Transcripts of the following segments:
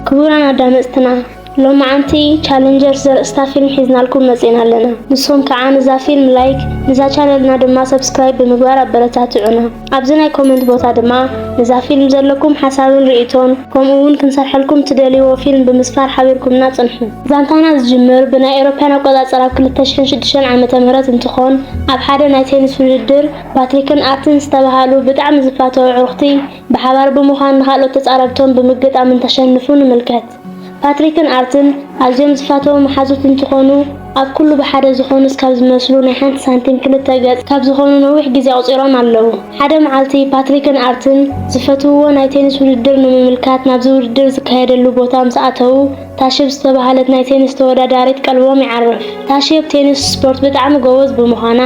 ክቡራን ኣዳመጽትና ሎማዓንቲ ቻለንጀርስ ዘርእስታ ፊልም ሒዝናልኩም መጺእና ኣለና ንስኹም ከዓ ንዛ ፊልም ላይክ ንዛ ቻነልና ድማ ሰብስክራይብ ብምግባር ኣበረታትዑና ኣብዚ ናይ ኮመንት ቦታ ድማ ንዛ ፊልም ዘለኩም ሓሳብን ርእይቶን ከምኡ እውን ክንሰርሐልኩም ትደልይዎ ፊልም ብምስፋር ሓቢርኩምና ጽንሑ ዛንታና ዝጅምር ብናይ ኤሮፓያን ኣቆጻጽራ ኣብ 2006 ዓመተ ምህረት እንትኾን ኣብ ሓደ ናይ ቴኒስ ውድድር ፓትሪክን ኣርትን ዝተባሃሉ ብጣዕሚ ዝፋተው ኣዕሩኽቲ ብሓባር ብምዃን ንኻልኦት ተጻረርቶም ብምግጣም እንተሸንፉ ንምልከት። ፓትሪክን ኣርትን ኣዝዮም ዝፋተዉ መሓዙት እንትኾኑ፣ ኣብ ኩሉ ብሓደ ዝኾኑስ ካብ ዝመስሉ ናይ ሓንቲ ሳንቲም ክልተ ገጽ ካብ ዝኾኑ ነዊሕ ግዜ ኣቑጺሮም ኣለዉ። ሓደ መዓልቲ ፓትሪክን ኣርትን ዝፈትውዎ ናይ ቴኒስ ውድድር ንምምልካት ናብዚ ውድድር ዝካየደሉ ቦታ ምስ ኣተዉ፣ ታሽብ ዝተባህለት ናይ ቴኒስ ተወዳዳሪት ቀልቦም ይዓርፍ። ታሽብ ቴኒስ ስፖርት ብጣዕሚ ጎበዝ ብምዃና፣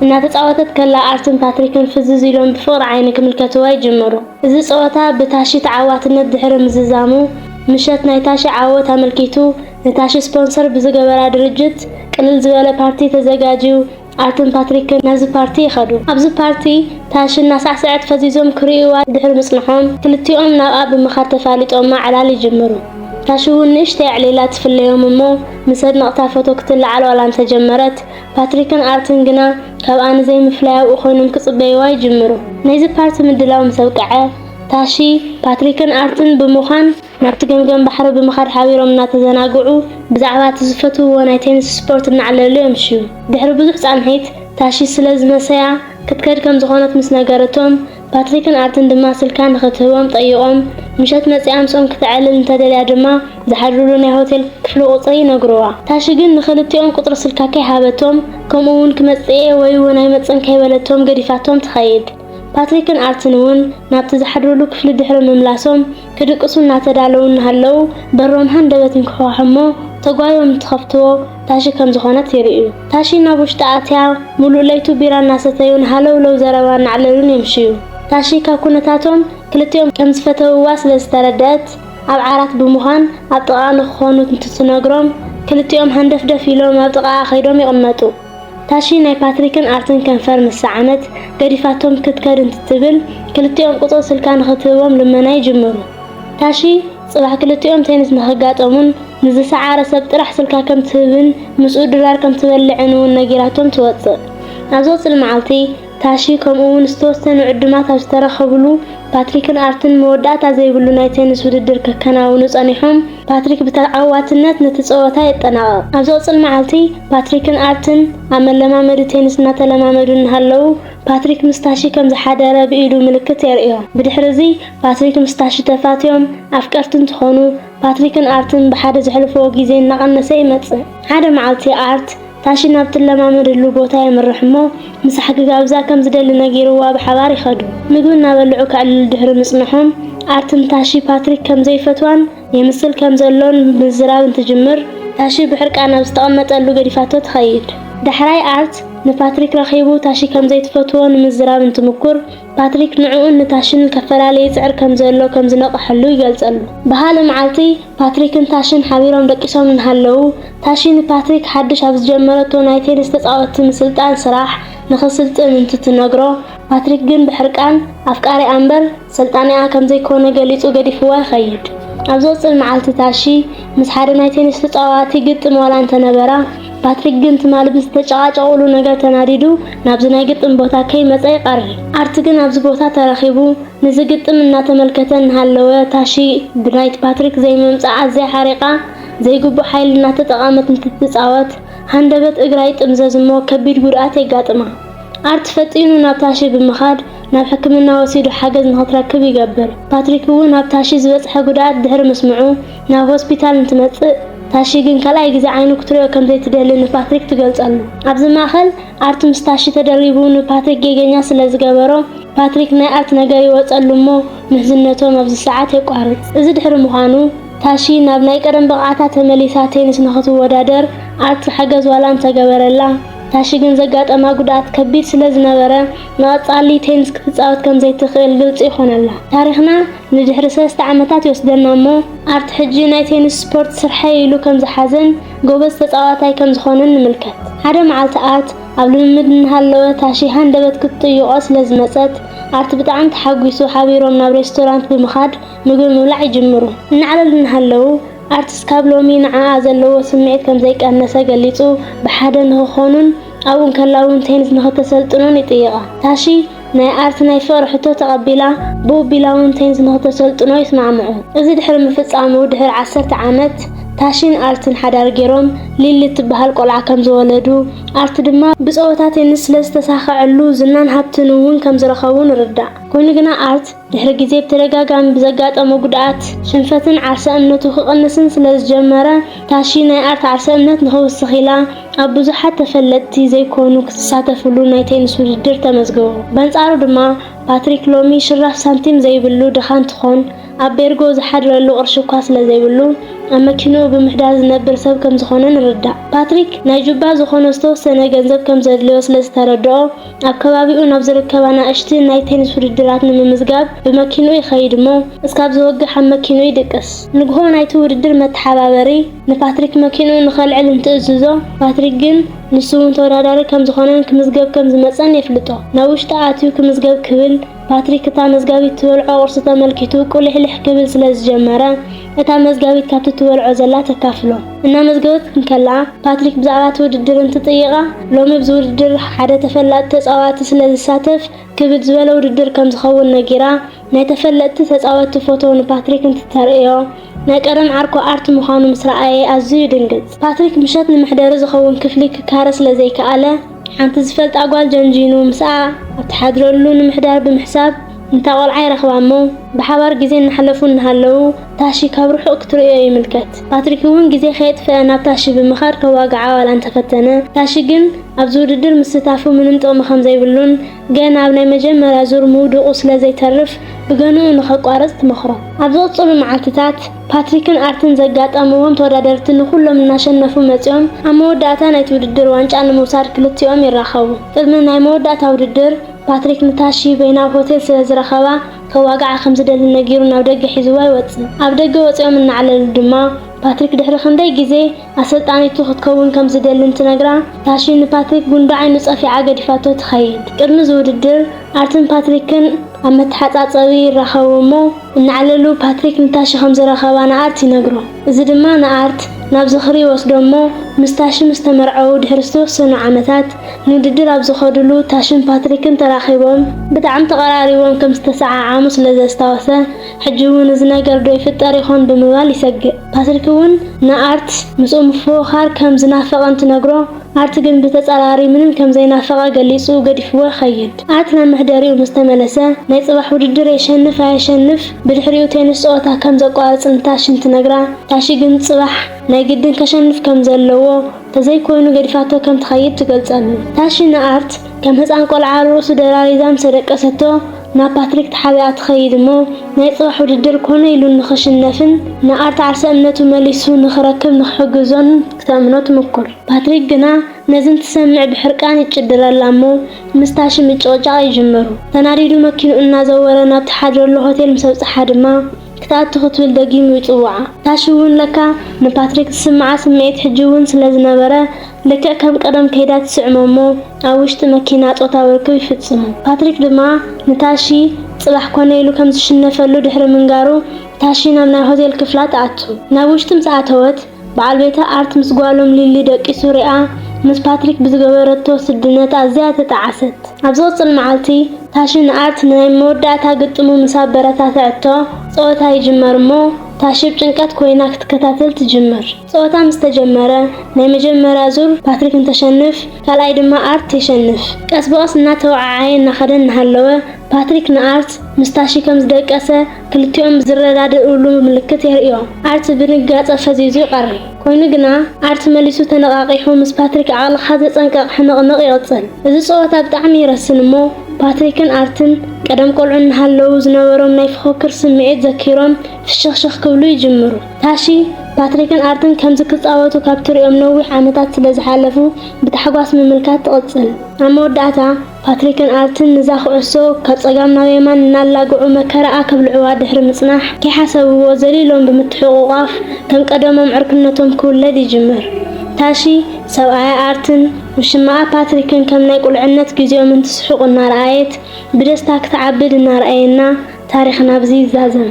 እናተጻወተት ከላ ኣርትን ፓትሪክን ፍዝዝ ኢሎም ብፍቕሪ ዓይኒ ክምልከትዋ ይጅምሩ። እዚ ጸወታ ብታሺ ተዓዋትነት ድሕሪ ምዝዛሙ፣ ምሸት ናይ ታሺ ዓወት ኣመልኪቱ ንታሺ ስፖንሰር ብዝገበራ ድርጅት ቅልል ዝበለ ፓርቲ ተዘጋጅዩ ኣርትን ፓትሪክን ናብዚ ፓርቲ ይኸዱ። ኣብዚ ፓርቲ ታሺ እናሳዕሰዐት ፈዚዞም ክርእይዋ ድሕሪ ምጽንሖም ክልቲኦም ናብኣ ብምኻድ ተፋሊጦማ ዕላል ይጅምሩ። ታሺ'ውን ንእሽተይ ኣዕሊላ ትፍለዮም እሞ ምስ ኣድነቕታ ፎቶ ክትለዓል ዋላ እንተጀመረት ፓትሪክን ኣርትን ግና ካብኣ ንዘይምፍላይ ኣብኡ ኮይኖም ክጽበይዋ ይጅምሩ። ናይዚ ፓርቲ ምድላው ምስ ኣብቅዐ፣ ታሺ፣ ፓትሪክን ኣርትን ብምዃን ናብቲ ገምገም ባሕሪ ብምኻድ ሓቢሮም እናተዘናግዑ ብዛዕባ እቲ ዝፈትውዎ ናይ ቴንስ ስፖርት እናዕለሉ የምሽዩ። ድሕሪ ብዙሕ ጻንሒት ታሺ ስለ ዝመሰያ ክትከድ ከም ዝኾነት ምስ ነገረቶም፣ ፓትሪክን ኣርትን ድማ ስልካ ንኽትህቦም ጠይቖም፣ ምሸት መጺኣ ምስኦም ክተዕልል እንተደልያ ድማ ዝሓድሩሉ ናይ ሆቴል ክፍሊ ቁጽሪ ይነግሩዋ። ታሺ ግን ንኽልቲኦም ቁጽሪ ስልካ ከይሃበቶም ከምኡ'ውን ክመጽእ'የ ወይ'ውን ኣይመጽእን ከይበለቶም ገዲፋቶም ትኸይድ። ፓትሪክን ኣርትን'ውን ናብቲ ዝሓድሩሉ ክፍሊ ድሕሪ ምምላሶም፣ ክድቅሱ እናተዳለዉ እናሃለዉ በሮም ሃንደበት እንክሕኳሑ እሞ ተጓዮም እንትኸፍትዎ ታሺ ከም ዝኾነት ይርእዩ። ታሺ ናብ ውሽጢ ኣትያ ሙሉእ ለይቱ ቢራ እናሰተዩን ሃለውለው ዘረባ እናዕለሉን የምሽዩ። ታሺ ካብ ኩነታቶም ክልቲኦም ከም ዝፈተውዋ ስለ ዝተረደኣት ኣብ ዓራት ብምዃን ኣብ ጥቓኣ ንክኾኑ እንትትነግሮም ክልቲኦም ሃንደፍደፍ ኢሎም ኣብ ጥቓኣ ከይዶም ይቕመጡ። ታሺ ናይ ፓትሪክን ኣርትን ከንፈር ምስ ሰዓመት፣ ገዲፋቶም ክትከድ እንትትብል፣ ክልቲኦም ቁጽሪ ስልካ ንኽትህቦም ልመና ይጅምሩ። ታሺ፣ ጽባሕ ክልቲኦም ቴኒስ ንኽጋጠሙን ንዝሰዓረ ሰብ ጥራሕ ስልካ ከም ትህብን ምስኡ ድራር ከም ትበልዕን'ውን ነጊራቶም ትወጽእ። ኣብ ዝቕጽል መዓልቲ፣ ታሺ ከምኡ'ውን ዝተወሰኑ ዕዱማት ኣብ ዝተረኸብሉ፣ ፓትሪክን ኣርትን መወዳእታ ዘይብሉ ናይ ቴንስ ውድድር ከከናውኑ ጸኒሖም። ፓትሪክ ብተዓዋትነት ነቲ ጸወታ የጠናቕቕ። ኣብ ዝቕጽል መዓልቲ፣ ፓትሪክን ኣርትን ኣብ መለማመዲ ቴንስ እናተለማመዱ እናሃለዉ፣ ፓትሪክ ምስ ታሺ ከም ዝሓደረ ብኢዱ ምልክት የርእዮ። ብድሕርዚ፣ ፓትሪክ ምስ ታሺ ተፋትዮም ኣፍቀርቲ እንትኾኑ፣ ፓትሪክን ኣርትን ብሓደ ዘሕልፍዎ ግዜ እናቐነሰ ይመጽእ። ሓደ መዓልቲ ኣርት፣ ታሺ ናብ ትለማመደሉ ቦታ የምርሕ እሞ ምሳሕ ክጋብዛ ከም ዝደሊ ነጊርዋ ብሓባር ይኸዱ። ምግቢ እናበልዑ ከዕልሉ ድሕሪ ምጽንሖም ኣርቲ ንታሺ ፓትሪክ ከም ዘይፈትዋን የምስል ከም ዘሎን ምዝራብ እንትጅምር፣ ታሺ ብሕርቃን ኣብ ዝተቐመጠሉ ገዲፋቶ ትኸይድ። ዳሕራይ ኣርት ንፓትሪክ ረኺቡ ታሺ ከም ዘይትፈትዎ ንምዝራብ እንትምኩር፣ ፓትሪክ ንዕኡን ንታሽን ከፈላሊ ይጽዕር ከም ዘሎ ከም ዝነቐሐሉ ይገልጸሉ። ብኻልእ መዓልቲ፣ ፓትሪክን ታሽን ሓቢሮም ደቂሶም እናሃለዉ፣ ታሺ ንፓትሪክ ሓድሽ ኣብ ዝጀመረቶ ናይ ቴኒስ ተጻወትቲ ምስልጣን ስራሕ ንኽስልጥን እንትትነግሮ፣ ፓትሪክ ግን ብሕርቃን፣ ኣፍቃሪኣ እምበር ሰልጣኒኣ ከም ዘይኮነ ገሊጹ ገዲፍዋ ይኸይድ። ኣብ ዝቕጽል መዓልቲ ታሺ ምስ ሓደ ናይ ቴኒስ ተጻዋቲ ግጥም ዋላ እንተነበራ፣ ፓትሪክ ግን ትማሊ ብዝተጨቓጨቑሉ ነገር ተናዲዱ ናብዚ ናይ ግጥም ቦታ ከይመጸ ይቐሪ። ኣርቲ ግን ኣብዚ ቦታ ተረኺቡ ንዚ ግጥም እናተመልከተ እናሃለወ ታሺ ብናይት ፓትሪክ ዘይምምጻእ ኣዝያ ሓሪቓ ዘይግቡእ ሓይሊ እናተጠቐመት እንትትጻወት ሃንደበት እግራ ይጥምዘዝ'ሞ ከቢድ ጉድኣት የጋጥማ። ኣርቲ ፈጢኑ ናብ ታሺ ብምኻድ ናብ ሕክምና ወሲዱ ሓገዝ ንኽትረክብ ይገብር። ፓትሪክ'ውን ኣብ ታሺ ዝበጽሐ ጉድኣት ድሕሪ ምስምዑ፣ ናብ ሆስፒታል እንትመጽእ፣ ታሺ ግን ካልኣይ ግዜ ዓይኑ ክትሪኦ ከም ዘይትደሊ ንፓትሪክ ትገልጸሉ። ኣብዚ ማእከል ኣርት ምስ ታሺ ተደሪቡ ንፓትሪክ ጌገኛ ስለ ዝገበሮ፣ ፓትሪክ ናይ ኣርት ነገር ይወጸሉ እሞ ምሕዝነቶም ኣብዚ ሰዓት የቋርጽ። እዚ ድሕሪ ምዃኑ፣ ታሺ ናብ ናይ ቀደም ብቕዓታ ተመሊሳ ቴኒስ ንኽትወዳደር ኣርት ሓገዝ ዋላ እንተገበረላ፣ ታሺ ግን ዘጋጠማ ጉድኣት ከቢድ ስለ ዝነበረ ንቐጻሊ ቴኒስ ክትጻወት ከም ዘይትኽእል ግልጺ ይኾነላ። ታሪኽና። ንድሕሪ ሰለስተ ዓመታት ይወስደና እሞ ኣብቲ ሕጂ ናይ ቴኒስ ስፖርት ስርሐይ ኢሉ ከም ዝሓዘን ጎበዝ ተጻዋታይ ከም ዝኾነን ንምልከት። ሓደ መዓልቲ ኣት ኣብ ልምምድ እናሃለወ ታሺ ሃንደበት ክትጥይቖ ስለ ዝመጸት ኣት ብጣዕሚ ተሓጒሱ ሓቢሮም ናብ ሬስቶራንት ብምኻድ ምግቢ ምብላዕ ይጅምሩ። እናዕለሉ እናሃለዉ ኣት ስካብ ሎሚ ንዓኣ ዘለዎ ስምዒት ከም ዘይቀነሰ ገሊጹ ብሓደ ንኽኾኑን ኣብኡ እንከላ እውን ቴኒስ ንኽተሰልጥኖን ይጥይቓ። ታሺ። ናይ ኣርት ናይ ፍቕሪ ሕቶ ተቐቢላ ብውቢላውንቴንስ ንክተሰልጥኖ ይስማዕምዑ። እዚ ድሕሪ ምፍጻሙ ድሕሪ ዓሰርተ ዓመት ታሺን ኣርትን ሓዳር ጌሮም ሊሊ እትበሃል ቆልዓ ከም ዝወለዱ፣ ኣርት ድማ ብጸወታ ቴንስ ስለ ዝተሳኸዐሉ ዝናን ሃብትን እውን ከም ዝረኸቡ ንርዳእ። ኮይኑ ግና ኣርት፣ ድሕሪ ግዜ ብተደጋጋሚ ብዘጋጠሞ ጉድኣት፣ ሽንፈትን ዓርሰ እምነቱ ክቕንስን ስለ ዝጀመረ፣ ታሺ ናይ ኣርት ዓርሰ እምነት ንኽውስኽ ኢላ ኣብ ብዙሓት ተፈለጥቲ ዘይኮኑ ክትሳተፍሉ ናይ ቴንስ ውድድር ተመዝግቡ። በንጻሩ ድማ ፓትሪክ ሎሚ ሽራፍ ሳንቲም ዘይብሉ ድኻ እንትኾን፣ ኣብ ቤርጎ ዝሓድረሉ ቅርሺ እኳ ስለ ዘይብሉ ኣብ መኪንኡ ብምሕዳር ዝነብር ሰብ ከም ዝኾነ ንርዳእ። ፓትሪክ ናይ ጁባ ዝኾነ ዝተወሰነ ገንዘብ ከም ዘድልዮ ስለ ዝተረድኦ፣ ኣብ ከባቢኡ ናብ ዝርከብ ኣናእሽቲ ናይ ቴኒስ ውድድራት ንምምዝጋብ ብመኪንኡ ይኸይድ እሞ እስካብ ዝወግሕ ኣብ መኪንኡ ይድቅስ። ንግሆ ናይቲ ውድድር መተሓባበሪ ንፓትሪክ መኪንኡ ንኸልዕል እንትእዝዞ ፓትሪክ ግን ንሱ እውን ተወዳዳሪ ከምዝኾነን ክምዝገብ ከምዝመፀን የፍልጦ። ናብ ውሽጢ ኣትዩ ክምዝገብ ክብል ፓትሪክ እታ መዝጋቢት ትበልዖ ቁርሲ ተመልኪቱ ቁሊሕሊሕ ክብል ስለ ዝጀመረ እታ መዝጋቢት ካብቲ ትበልዖ ዘላ ተካፍሎ እናመዝገበት እንከላ ፓትሪክ ብዛዕባ እቲ ውድድር እንትጥይቓ ሎሚ ብዚ ውድድር ሓደ ተፈላጢ ተጻዋቲ ስለ ዝሳተፍ ክብድ ዝበለ ውድድር ከም ዝኸውን ነጊራ ናይ ተፈለጥቲ ተጻወቲ ፎቶ ንፓትሪክ እንትተርእዮ ናይ ቀደም ዓርኩ ኣርት ምዃኑ ምስ ረኣየ ኣዝዩ ይድንግጽ። ፓትሪክ ምሸት ንመሕደሪ ዝኸውን ክፍሊ ክካረ ስለ ዘይከኣለ ሓንቲ ዝፈልጣ ጓል ጀንጂኑ ምስኣ ኣብ ትሓድረሉ ንምሕዳር ብምሕሳብ እንታ ቆልዓ ይረኽባ እሞ ብሓባር ግዜ እናሕለፉ እናሃለዉ ታሺ ካብ ርሑቕ ክትርእዮ ይምልከት። ፓትሪክ እውን ግዜ ከየጥፈኣ ናብ ታሺ ብምኻድ ከዋግዓ ዋላ እንተፈተነ ታሺ ግን ኣብዚ ውድድር ምስታፉ ምንም ጥቕሚ ከምዘይብሉን ገና ኣብ ናይ መጀመርያ ዙር ምውድቑ ስለ ዘይተርፍ ብገንኡ ንኸቋርጽ ትመኽሮ። ኣብ ዝቕጽሉ መዓልትታት፣ ፓትሪክን ኣርትን ዘጋጠምዎም ተወዳደርቲ ንኹሎም እናሸነፉ መጺኦም ኣብ መወዳእታ ናይቲ ውድድር ዋንጫ ንምውሳድ ክልቲኦም ይራኸቡ። ቅድሚ ናይ መወዳእታ ውድድር፣ ፓትሪክ ንታሺ በይናዊ ሆቴል ስለ ዝረኸባ ከዋግዓ ከም ዝደሊ ነጊሩ ናብ ደገ ሒዝዋ ይወጽእ። ኣብ ደገ ወጺኦም እናዕለሉ ድማ፣ ፓትሪክ ድሕሪ ክንደይ ግዜ፣ ኣሰልጣኒቱ ክትከውን ከም ዝደልን ትነግራ፣ ታሺ ንፓትሪክ ጉንዲ ዓይኑ ጸፊዓ ገዲፋቶ ትኸይድ። ቅድሚ እዚ ውድድር፣ ኣርትን ፓትሪክን ኣብ መተሓጻጸቢ ይራኸቡ እሞ፣ እናዕለሉ ፓትሪክ ንታሺ ከም ዝረኸባ ንኣርት ይነግሮ። እዚ ድማ ንኣርት ናብ ዝኽሪ ይወስዶ እሞ፣ ምስ ታሺ ምስ ተመርዐዉ ድሕሪ ዝተወሰኑ ዓመታት፣ ንውድድር ኣብ ዝኸዱሉ ታሺን ፓትሪክን ተራኺቦም፣ ብጣዕሚ ተቐራሪቦም ከም ዝተሰዓዓሙ ስለ ዘስታወሰ፣ ሕጂ'ውን እዚ ነገር ዶ ይፍጠር ይኾን ብምባል ይሰግእ። ፓትሪክ'ውን ንኣርት ምስኡ ምፍውኻር ከም ዝናፈቐ እንትነግሮ፣ ኣርት ግን ብተጻራሪ ምንም ከም ዘይናፈቐ ገሊጹ ገዲፍዎ ይኸይድ። ኣርት ናብ መሕደሪኡ ምስ ተመለሰ፣ ናይ ጽባሕ ውድድር የሸንፍ ኣየሸንፍ ብድሕሪኡ ቴንስ ጸወታ ከም ዘቋርጽ ንታሺ እንትነግራ፣ ታሺ ግን ጽባሕ ናይ ግድን ከሸንፍ ከም ዘለዎ፣ ተዘይኮይኑ ገዲፋቶ ከም ትኸይድ ትገልጸሉ። ታሺ ንኣርት ከም ህጻን ቆልዓ ኣብ ርእሱ ደራሪዛ ምስ ደቀሰቶ፣ ናብ ፓትሪክ ተሓቢኣ ትኸይድ እሞ ናይ ጽባሕ ውድድር ኮነ ኢሉ ንኽሽነፍን ንኣርት ዓርሰ እምነቱ መሊሱ ንኽረክብ ንኽሕግዞን ክተእምኖ ትምኩር። ፓትሪክ ግና ነዚ እንትሰምዕ ብሕርቃን ይጭድረላ እሞ ምስ ታሺ ምጭቕጫቕ ይጅምሩ። ተናዲዱ መኪኑ እናዘወረ ናብቲ ሓድረሉ ሆቴል ምስ ኣብጽሓ ድማ፣ ክትኣቱ ክትብል ደጊሙ ይጽውዓ። ታሽ'ውን ለካ ንፓትሪክ ዝስምዓ ስምዒት ሕጂ'ውን ስለ ዝነበረ፣ ልክዕ ከም ቀደም ከይዳ ትስዕሞ'ሞ ኣብ ውሽጢ መኪና ጾታዊ ርክብ ይፍጽሙ። ፓትሪክ ድማ ንታሺ ጽባሕ ኮነ ኢሉ ከም ዝሽነፈሉ ድሕሪ ምንጋሩ፣ ታሺ ናብ ናይ ሆቴል ክፍላ ትኣቱ። ናብ ውሽጢ ምስ ኣተወት፣ በዓል ቤታ ኣርት ምስ ጓሎም ሊሊ ደቂሱ ሪኣ ምስ ፓትሪክ ብዝገበረቶ ስድነት ኣዝያ ተጣዓሰት። ኣብ ዝቕጽል መዓልቲ ታሺ ንኣርት ንናይ መወዳእታ ግጥሙ ምስ ኣበረታትዐቶ ጸወታ ይጅመር'ሞ ታሺ ብ ጭንቀት ኮይና ክትከታተል ትጅምር። ጸወታ ምስ ተጀመረ ናይ መጀመርያ ዙር ፓትሪክ እንተሸንፍ ካልኣይ ድማ ኣርት የሸንፍ። ቀስ ብቐስ እናተወዓዓየ እናኸደ እናሃለወ ፓትሪክ ንኣርት ምስ ታሺ ከም ዝደቀሰ ክልቲኦም ዝረዳድእሉ ምልክት የርእዮ። ኣርት ብድንጋጸ ፈዚዙ ይቐሪ። ኰይኑ ግና፣ ኣርት መሊሱ ተነቓቒሑ ምስ ፓትሪክ ዓቕልኻ ዘጸንቅቕ ሕንቕንቕ ይቕጽል። እዚ ጸወታ ብጣዕሚ ይረስን እሞ፣ ፓትሪክን ኣርትን ቀደም ቈልዑ እናሃለዉ ዝነበሮም ናይ ፍኹክር ስምዒት ዘኪሮም ፍሽኽሽኽ ክብሉ ይጅምሩ። ታሺ፣ ፓትሪክን ኣርትን ከምዚ ክጻወቱ ካብ ትርእዮም ነዊሕ ዓመታት ስለ ዝሓለፉ ብታሕጓስ ምምልካት ትቕጽል። ኣብ መወዳእታ፣ ፓትሪክን ኣርትን ንዛ ኩዕሶ ካብ ጸጋም ናብ የማን እናላግዑ መከራኣ ከብልዑዋ ድሕሪ ምጽናሕ፣ ከይሓሰብዎ ዘሊሎም ብምትሕቑቛፍ ከም ቀደሞም ዕርክነቶም ክውለድ ይጅምር። ታሺ፣ ሰብኣያ ኣርትን ውሽማኣ ፓትሪክን ከም ናይ ቁልዕነት ግዜኦም እንትስሕቑ እናረኣየት ብደስታ ክትዓብድ እናርኣየና ታሪኽና ኣብዚ ይዛዘም።